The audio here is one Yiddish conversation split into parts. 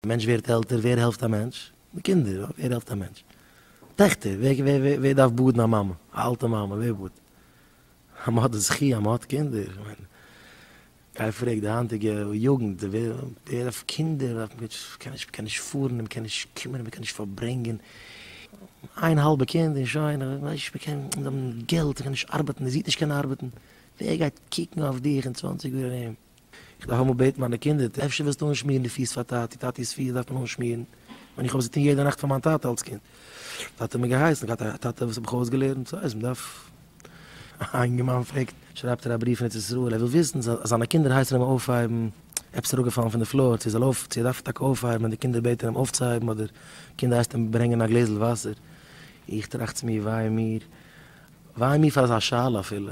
מענטש ווערט עלטער, ווער העלפט א מענטש? די קינדער, אוי ווער העלפט א מענטש? טעכטער, ווער ווער דארף באדן א מאמע, א אלטע מאמע, ווער באדט? אז מען האט די זכי' אז מען האט קינדער, איך מיין, גיי פרעג די היינטיגע יוגנט, ווער ווער דארף קינדער, מען דארף נישט, מען קען נישט, מען קען נישט פארן, מען קען נישט קומען, מען קען נישט פארברענגען, איין האלבע קינד און שוין, איך ווייס נישט, מען קען, מען דארף געלט, מען קען נישט ארבעטן, זי וועט נישט קענען ארבעטן, ווער גייט קוקן אויף דיך אין צוואנציג יאר ארום? איך דארף אמאל בעטן מיינע קינדער, טא אפשר ווילסטו אנשמירן די פיס פאר טאטי, טאטי'ס פיס דארף מען אנשמירן, ווען איך האב עס געטון יעדע נאכט פאר מיין טאטע אלס קינד, טאטע האט מיר געהייסן, איך האב געהאט א טאטע וואס האט מיך אויסגעלערנט, סא אז מ'דארף, א אינגערמאן פרעגט, שרייבט ער א בריוו פון ארץ ישראל, ער וויל וויסן צו זיינע קינדער הייסן אים אויפהייבן, עפעס איז אראפגעפאלן פון די פלאר, צו ער זאל אויף, צו ער דארף טאקע אויפהייבן ווען די קינדער בעטן אים אויפצוהייבן אדער קינדער הייסט אים ברענגען א גלעזל וואסער, איך טראכט צו מיר וויי מיר, וויי מיר פאר אזא שאלה אפילו,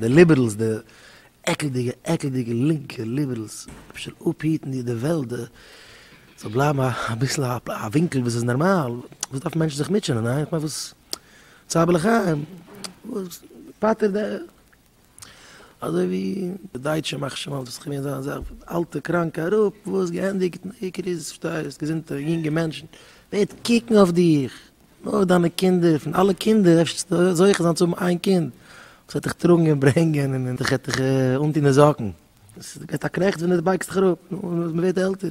די ליבערלס, די עקלדיגע עקלדיגע לינקע ליבערלס, אפשר אפהיטן דיר די וועלט, די זאל בלייבן אביסל א ווינקל וואס איז נארמאל, וואס דארפן מענטשן זיך מוטשענען, אה? איך מיין וואס? צער בעלי חיים, וואס? פטר די. אזוי ווי די דייטשע מאכן שוין אלס וואס כ'מיין זיי זעלבסט אלטע קראנקע אראפ, וואס? געענדיגט, די עיקר איז, פארשטייסט, געזונטע יונגע מענטשן, ווער וועט קוקן אויף דיך? נאר דיינע קינדער, פון אלע קינדער וועסטו זוכה זיין צו האבן איין קינד וואס וועט דיך טראגן און ברענגען און דיך וועט דיך אנטון די זאקן, עס גייט א קרעכץ ווען די בייגסט דיך אראפ, נו, מען ווערט עלטער,